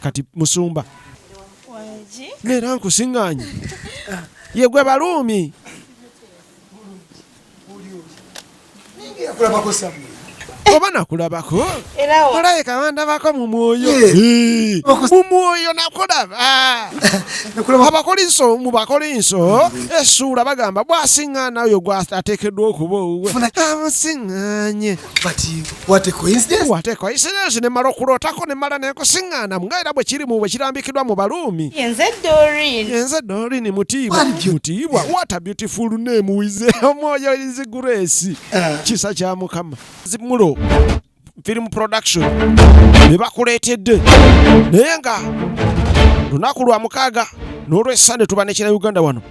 kati musumba neera nkusinganye yegwe baluumi oba nakulabako olaye kawandabako mu mwoyo mu mwoyo nakulaba abakolinso mu bakolinso esuula bagamba bwasiŋŋaana oyo gwateekeddwa okuba owuwe amusiŋŋanye But what a coincidence. What a coincidence ne mala okulootako ne mala nenkusiŋŋaana nga era bwe kiri mu bwe kirambikidwa mu Baruumi. Yenze Doreen. Yenze Doreen mutiibwa. Mutiibwa. What a beautiful name wize omwoyo is grace. Uh. Kisa kya Mukama. Zimulo. Film production. Ne bakuleetedde. Naye nga lunaku lwa mukaaga n'olw'essande tuba ne kira Uganda wano.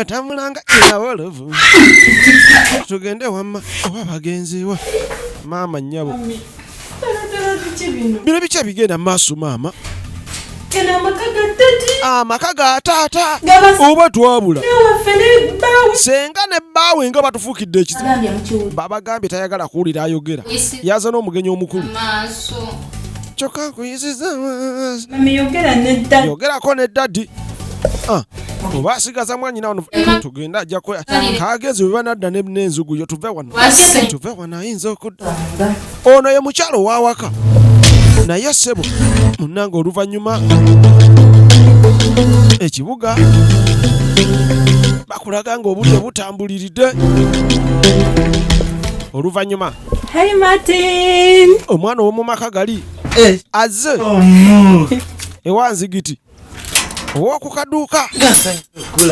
atambulanga erawolovu tugende wamma oba bagenziwa maama nyabo bino bikya bigenda maaso maama amaka ga taata oba twabula senga ne bbaawe nga batufuukidde ekizibu babagambye tayagala kuwulira ayogera yaza n'omugenyi omukulu kyokka nkuyiziza yogerako ne dadi oba asigaza mwanyina wano tugenda ajja kagenzi bwe banadda n'enzugu yo tuve wano tuve wano ayinza okudda ono ye mukyalo ow'awaka naye sebo munange oluvannyuma ekibuga bakulaga nga obudde butambuliridde oluvannyuma omwana ow'omu maka gali eh. azze oh, ewa nzigiti owoku kaduuka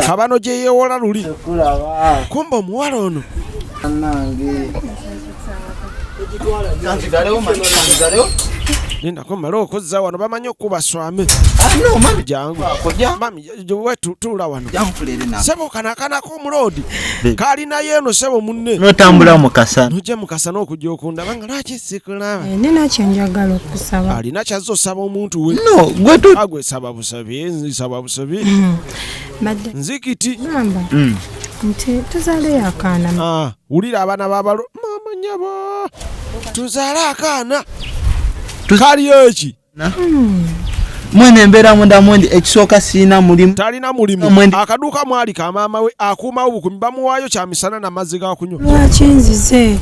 kabano gye yeewola luli kumba omuwala ono nindako male okuzza wano bamanyi okukuba swame jangu tuula wano sebo kanakanaku omuloodi kalinayo eno sebo munne notambula mukasa nojja mukasa n'okujja okundaba nga lwaki sikulaba eh, nina kyenjagala okusaba alina kyazza osaba omuntu we no gwetagwe ah, saba busabi nsaba busabi hmm. nzikiti hmm. nti tuzale akaana ah, wulira abaana babalo mama nyabo tuzale akaana kaliyo eki mwene embeera munda mwendi ekisooka sirina mulimu talina mulimu akaduuka mwali ka maama we akuumawo bukumi bamuwaayo kya misana na mazzi ga kunywa lwaki nzize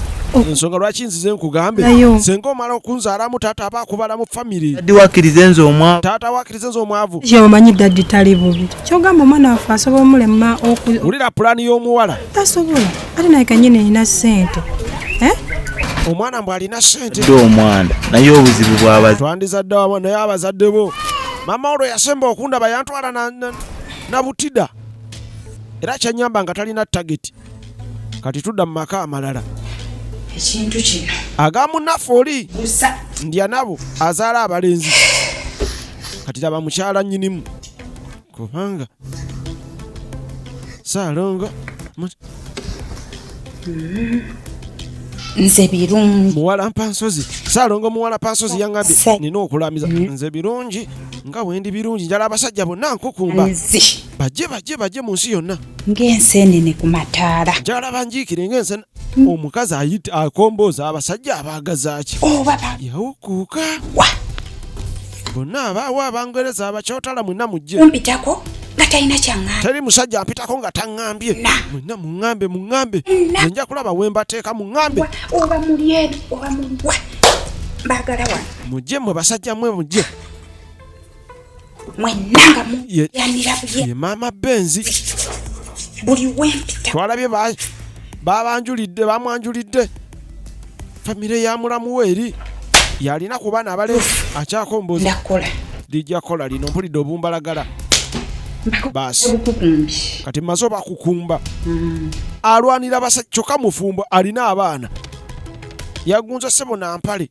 ensonga lwaki nzize nkugambe senga omala okunzaalamu taata aba akubalamu famiry dadi wakirize nze omwavu taata wakirize nze omwavu omanyi dadi tali bubi kyogamba omwana waffe asobola omulema wulira pulaani y'omuwala tasobola ate naye kanyini nina sente eh? omwana mbw alina sente dde omwana naye obuzibu bwabazi twandizadde wama naye abazadde bo mama olwo yasemba okundaba yantwala na, na, na butida era kyanyamba nga talina tageti kati tudda mu maka amalala ekintu kino agamunaffe oli ndya nabo azaala abalenzi kati laba mukyala nyinimu kubanga saalongo nze birungi muwala mpansozi saalongo muwala pansozi yangambye nina okulamiza mm. nze birungi nga wendi birungi njala abasajja bonna nkukumba bajje bajje bajje mu nsi yonna ng'enseenene ku mataala njala banjiikire ng'ensene mm. omukazi ayita akombooza abasajja abaagazaaki oba oh, yawukuuka bonna abaawo abangereza abakyotala mwena mujje kumpitako nga talina kyaŋŋambye teri musajja ampitako nga taŋŋambye mwena muŋŋambe muŋŋambe enja kulaba we mbateeka muŋŋambe oba muli eri oba muliwa mbagala wano mujje mwe basajja mwe mujje mwenna nga muyanira ye maama benzi buli wempita twalabye babanjulidde bamwanjulidde famire ya mulamu we eri yalina ku baana abale akyakomboza lijja kola lino mpulidde obumbalagala baasi kati maze obakukumba mm. alwanira basa kyokka mufumbo alina abaana yagunza sebo nampale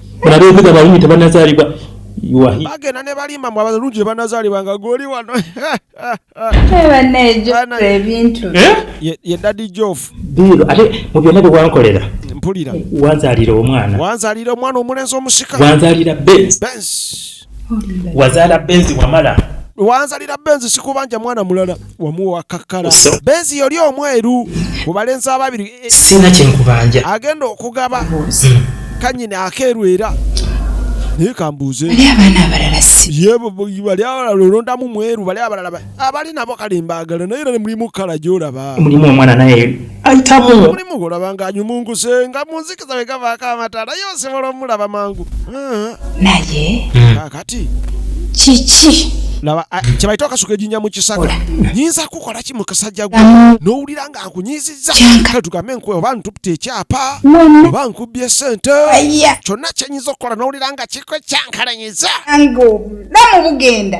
mulabe ebiga abalungi tebanazaalibwa bagenda ne balimba mu abalungi tebanazaalibwa nga goli wano ebintu eh? ye dadi jofu diiro ate mu byonna bye wankolera mpulira wanzaalira omwana wanzaalira omwana omulenzi omusika wanzaalira bensi wazala benzi wamala wanzalira benzi sikubanja mwana mulala wamuwa kakala benzi yoli omweru mubalenzi ababiri eh, eh. sina kyenkubanja agenda okugaba hmm. kanyini akeeru era naye kambuuze bali abalala olondamu mweru bali abalala abali nabo kale mbagala naye era mulimu kala gyolaba mulimu omwana naye ayitamu mulimu golaba nga anyumunguse nga munzikiza we gavaako amatala ye osobola omulaba mangu ah. naye hmm. kakati kiki laba ah, kyebayita okasuka ejinya mu kisaka nyinza kukola ki mu kasajja gwe n'owulira nga nkunyiizizza kale tugambe nkuwe oba ntupita ekyapa oba nkubbye sente kyonna kyenyinza okukola n'owulira nga kikwe kyankalanyiza nga obulamu bugenda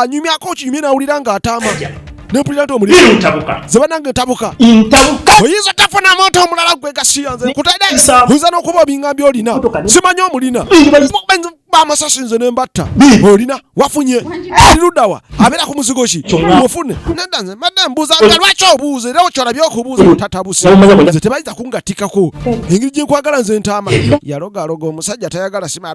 anyumyako ah, okinyumye nawulira nga ataama nempulira nti omuliintabuka ze banange ntabuka ntabuka oyinza tafuna muntu omulala gwe gasiya nze nkutadde oyinza n'okuba obingambye olina simanyi omulina bamasasi nze nembatta olina wafunye lirudawa abeera ku muzigo ki ofune neda nze madde mbuuza nga lwaki obuuza era okyolabye okubuuza otatabuse nze tebayinza kungatikako engeri gyenkwagala nze ntaama yalogaloga omusajja tayagala sima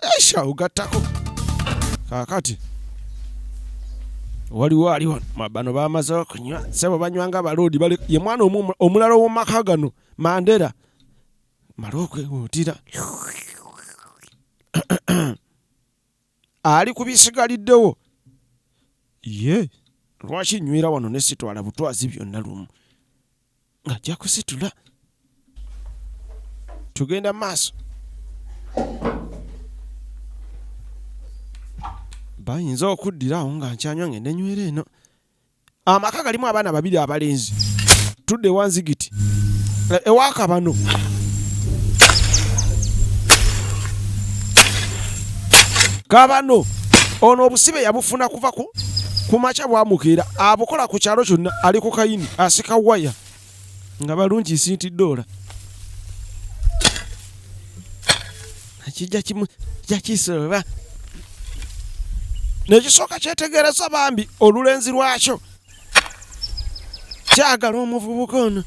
esha ugatako kakati waliwo ali wano bano bamaze okunywa sebo banywa nga baloodi bali ye mwana omulala owomaka gano mandera mala okwewuutira ali ku bisigaliddewo ye lwaki nywera wano nesitwala butwazi byonna lumu ng'ajja kusitula tugenda maaso bayinza okuddira awo nga nkyanywa ngende nywera eno amaka galimu abaana babiri abalenzi tudde wanzigiti eh, ewakabano kabano ono obusibe yabufuna kuva ku kumakya bwamukeera abukola ku kyalo kyonna ali ku kayini asika waya nga balungi sinti dola kijakisoba nekisooka kyetegereza bambi olulenzi lwakyo kyagala omuvubuka ono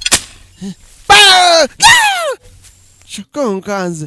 kyokka onkanze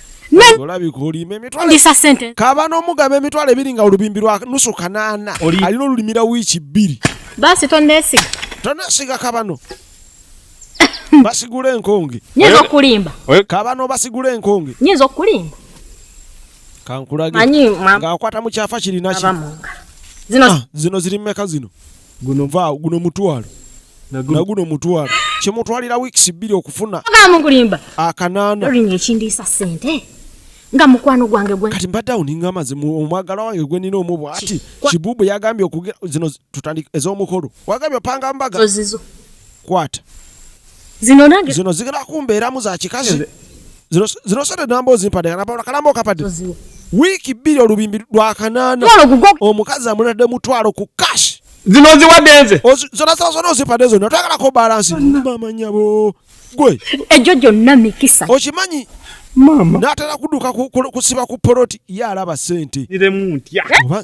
olabika sente kaba n'omugaba emitwalo ebiri nga olubimbi lwa nusu kanaana alina olulimira wiiki bbiri basi tonesiga tonesiga kabano basigula enkonge nyinza okulimba kabano basigula enkonge nyinza okulimba kankulage ng'akwata mu kyafa kirinaki zino ah, zino ziri mumeka zino guno vaa guno mutwalo naguno mutwalo kimutwalira weeks bbiri okufuna mukulimba akanaana olinga ekindiisa sente nga mukwano gwange gwe kati mbadde awo ninga amazi omwagala wange gwe nina omu bwati kibubu yagambye okugira zino tutandika ez'omukolo wagambye opanga mbaga ozizo kwata Zino nange zino zigala kumbeeramu za kikazi. Zino zino sente namba ozimpadde kana pawula kalamba okapadde. Wiiki bbiri olubimbi lwa kanaana. Omukazi amulade mutwalo ku cash. Zino ziwadde nze. Zona sala zona ozimpadde zona twagala ko balance. Mama nyabo. Gwe. Ejo jonna mikisa. Okimanyi Mama. Natera kuduka kusiba ku poloti ya alaba sente. Niremu ntya. Eh?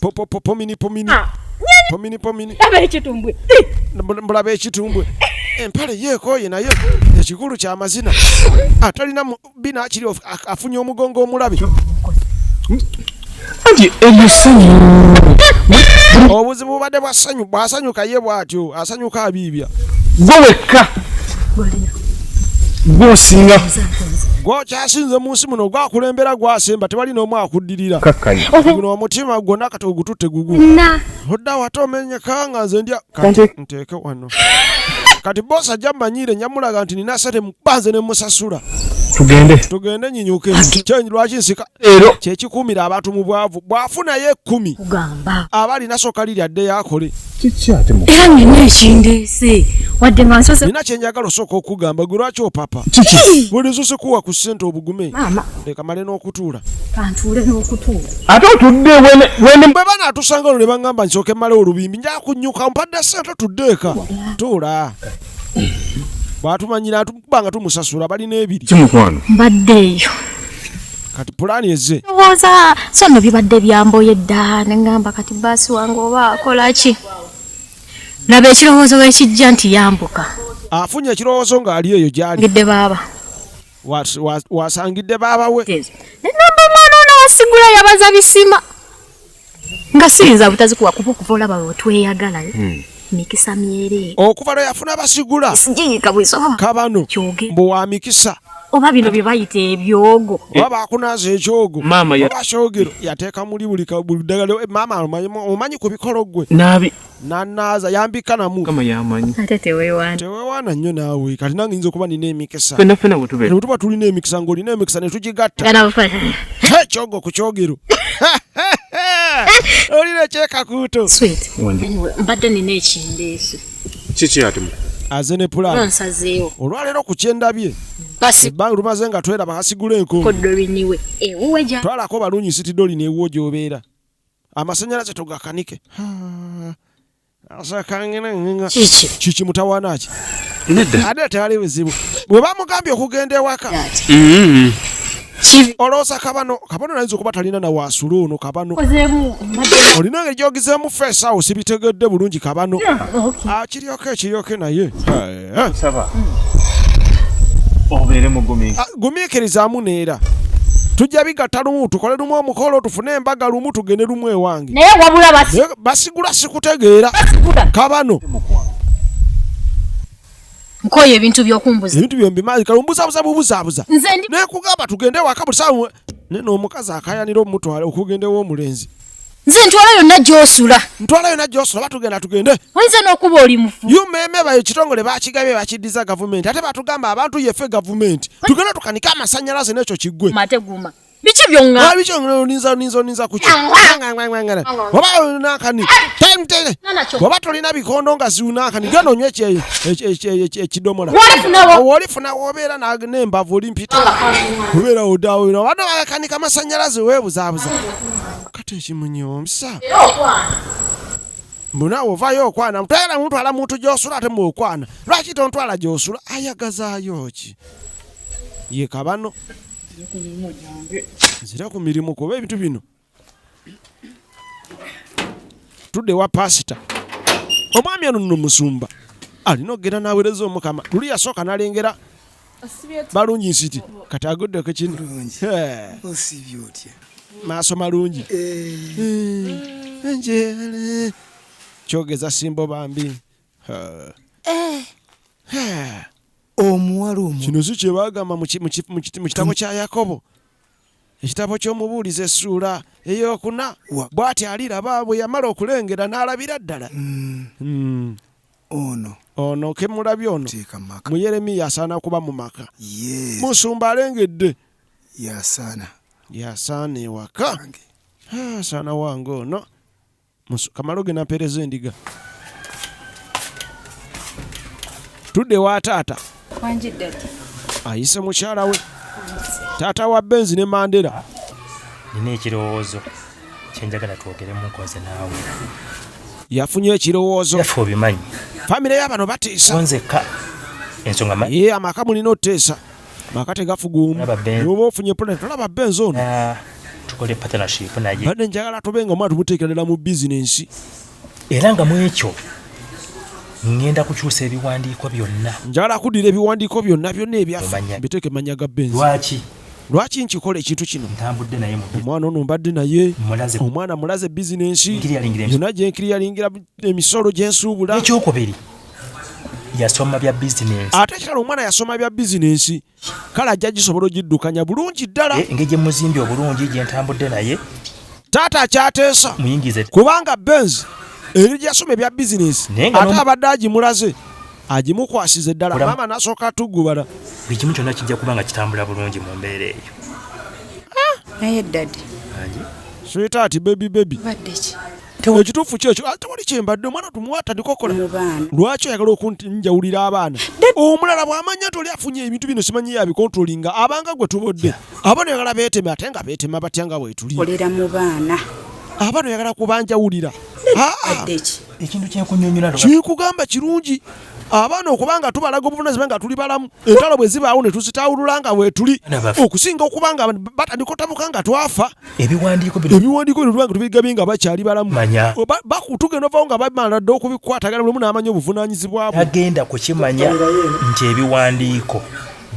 Popo popo mini pomini. Ah, pomini pomini. Laba ekitumbwe. Mbulaba ekitumbwe. Empale yeekooye naye ekikulu kya mazina. Atalina bina akiri afunye omugongo omulabi. Anti ebisanyu. Obuzibu bubadde bwa ssanyu bw'asanyuka ye bw'atyo asanyuka abiibya. Gwe wekka. Gwosinga. Gwokyasinze mu nsi muno gwakulembera gwasemba tewali n'omu akudde. okuddirira kakkanya guno omutima gwonna kati ogututte gugu odda wate omenyeka nga nze ndya kati nteeke wano kati bosi ajja mmanyiire nyamulaga nti nina sente mubanze ne musasula tugende tugende nyinyuke kyenyi lwaki nsika ero kyekikuumira abantu mu bwavu bwafunayo ekkumi kugamba aba alina soka liri adde yakole era nina ekindeese wadde nga nsoze nina kyenjagala osooka okugamba gwe lwaki opapa kiki buli zusikuwa ku sente obugume leka male n'okutuula kantuule n'okutuula ate otudde bwe banaatusanga olwo ne baŋŋamba nsooke male olubimbi nja kunyuka mpadde sente otudde eka tuula bwatumanyira tuba nga tumusasula balina ebiri kimukwano mbadde eyo kati pulaani eze ndowooza so nno bibadde byamboye dda ne ŋŋamba kati baasi wange oba akola ki laba ekirowoozo wekijja nti yambuka afunye ekirowoozo ng'ali eyo gyali ngidde baaba wasangidde baaba we namba omwana ono wasigula yabaza bisima nga siyinza butazikuwa kuba okuva olaba wetweyagala eh? hmm. mikisa myere okuva lwe yafuna basigula sijiyika bwisoma kabano mbu wa mikisa oba bino bye bayita ebyogo eh. oba bakunaaza ekyogo oba kyogero yateeka muli buli ddagala eh, maama omanyi ku bikolo gwe nanaaza yambika namu kama yamanyi ate tewewana tewewana nnyo naawe kati nange nyinza okuba nina emikisa fena fena bwetube tuba tulina emikisa ng'olina emikisa netugigatta ekyogo ku kyogero olina ekyekakuuto mbadde nina ekindeeso kiki ati aze ne pulaani olwaleero ku kyendabye ebbanga lumaze nga tweraba hasigula enko twalako balunyi sitidoli neewuwo gyobeera amasanyalaze tugakanike kiki kiki mutawaana ki nedda ate tewali buzibu bwe bamugambye okugenda ewaka mm-hmm. olowooza kabano kabano nayinza okuba talina na waasula ono kabano olina ngeri gyogizeemu feesawo sibitegedde bulungi kabano akiryoka ah, ekiryoke naye Eh? nsaba obeere mugumiikiriza ah, gumiikirizaamu neera tujja bigatta lumu tukole lumu omukolo tufune embaga lumu tugende lumu ewange naye wabula basigula sikutegeera kabano nkoye ebintu byokumbuza ebintu byombi mazi kalumbuzabuza bubuzabuza naye kugamba tugende waka buli sawa ne n'omukazi akayanira omutwala okugenda ew'omulenzi nze ntwala yonna gyosula ntwala yonna gyosula batugenda tugende oyinza n'okuba oli mufu umeme bayo kitongole bakigabye bakiddiza gavumenti ate batugamba abantu yefe gavumenti tugenda tukanike amasanyalaze n'ekyo kiggwe mateguma biki byonga biki byonga olinza olinza olinza kuki ngangangangana baba olina akani time tele baba tolina bikondo nga ziuna akani gano nywe kye kye kidomola wali funa wobera na nemba voli mpita wobera odawo bano akani kama sanyalaze webuza buza kati ekimunyomsa mbu naawe ovaayo okwana mutayala muntwala muntu gyosula ate mu okwana lwaki tontwala gyosula ayagazaayo ki ye kabano nzira ku mirimu kuba ebintu bino tudde wa pasita omwami ono nno musumba alina okugenda n'aweereza omukama luli yasooka n'alengera balungi nsiti kati aguddeko kino maaso malungi njere kyogeza simbo bambi omuwala omu kino si kyebagamba mu kitabo kya yakobo ekitabo ky'omubuulizi essuula eyokuna bw'ati aliraba bwe yamala okulengera n'alabira ddala hmm. Hmm. Ono. Ono ke mulabye ono. Teeka mu maka. Mu Yeremiya asaana kuba mu maka. Yes. Musumba alengedde. Yasaana. Yasaana ewaka. Ah, asaana wange ono. Kamalo ge nampeereza endiga. Tudde wa taata. ayise mukyala we taata wa benzi ne mandera nina ekirowoozo kyenjagala twogeremu nkoze naawe yafunye ekirowoozo yaffe obimanyi famire yabano batiisa nzekka ensonga manyi ye amaka mulina oteesa maka tegafuguumu oba ofunye pulani tolaba benzi ono ah, tukole partnership naye badde njagala tube nga omwana tumuteekerera mu bizinensi era nga mu ekyo ngenda kukyusa ebiwandiiko byonna njala kudira ebiwandiiko byonna byonna ebyaffe biteeke mannya ga benzi lwaki lwaki nkikola ekintu kino omwana ono mbadde naye omwana mulaze bizinensi yona gyenkiri yalingira emisolo gyensuubula ekyokubiri yasoma bya bizinensi ate kirala omwana yasoma bya bizinensi kale ajja gisobola ogiddukanya bulungi ddala eh, engeri gyemuzimbi obulungi gyentambudde naye taata akyateesa muyingize kubanga benz eri gyasoma ebya bizinesi ate abadde agimulaze agimukwasiza eddala maama nasooka atugubala buli kimu kyonna kijja kuba nga kitambula bulungi mu mbeera eyo ah! naye dadi switaati bebi bebi ekituufu kyekyo ah, tewali kyembadde omwana tumwatandika okola lwaki oyagala okunjawulira abaana omulala bwamanya nti oli afunye ebintu bino simanyi yabikontrolinga abanga gwe tubodde abaana oyagala beeteme ate nga beetema batya nga bwetuli abaana oyagala kubanjawulira ah, ah. ekintu kyekunyonyola kikugamba kirungi abaana okuba nga tubalaga obuvunazibwa nga tuli balamu entalo bwe zibaawo ne tuzitawulula nga weetuli okusinga okuba nga batandika otabuka nga twafa ebiwandiiko bino tubanga tubigabye nga bakyali balamu tugenda ovawo nga bamala dda okubikwatagana lumu n'amanya obuvunanyizibwa bwe agenda kukimanya nti ebiwandiiko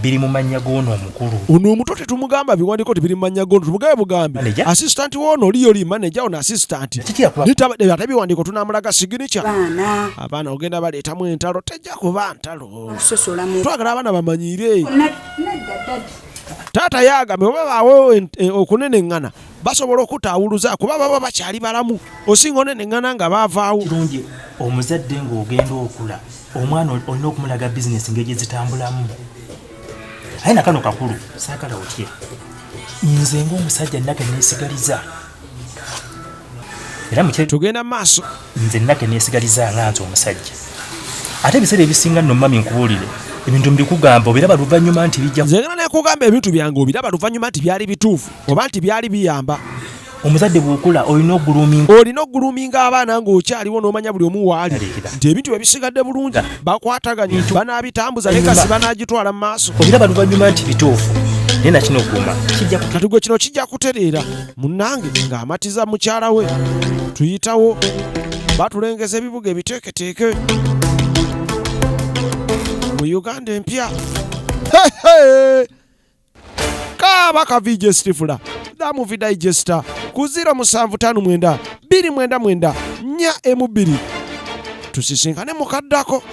biri mu mannya g'ono omukulu. Ono omuto tetumugamba biwandiiko nti biri mu mannya g'ono, tumugabe bugambi. Asisitanti w'ono oli yoli maneja, ono asisitanti. Ate biwandiiko tunaamulaga siginica. Abaana ogenda baleetamu entalo, tejja kuba ntalo. Twagala abaana bamanyiire. Taata yaagambe oba baawo eh, okuneneŋŋana basobola okutaawuluza kuba baba bakyali balamu osinga oneneŋŋana nga baavaawo kirungi omuzadde ng'ogenda okula omwana olina okumulaga bizinesi ngeri gye zitambulamu aye nakano kakulu saagala otye nze ng'omusajja nage neesigaliza era tugenda mu maaso nze nna teneesigaliza nga nze omusajja ate ebiseera ebisinga nno mami nkubuulire ebintu mbikugamba obiraba luvannyuma nti bijja nze ngana nekugamba ebintu byange obiraba luvannyuma nti byali bituufu oba nti byali biyamba omuzadde bwokula olina oguluminga olina oguluminga abaana ng'okyaliwo n'omanya buli omu waali nti ebintu bye bisigadde bulungi bakwataganye banaabitambuza ne kasi banaagitwala mu maaso obiraba luvannyuma nti bituufu naye nakino guma kino kino kijja kutereera Munnange ng'amatiza mukyala we tuyitawo batulengeza ebibuga ebiteeketeeke mu Uganda empya kaaba ka VJ Stifula da movie digester ku 0759 299 4 emu bbiri tusisinkane mukaddako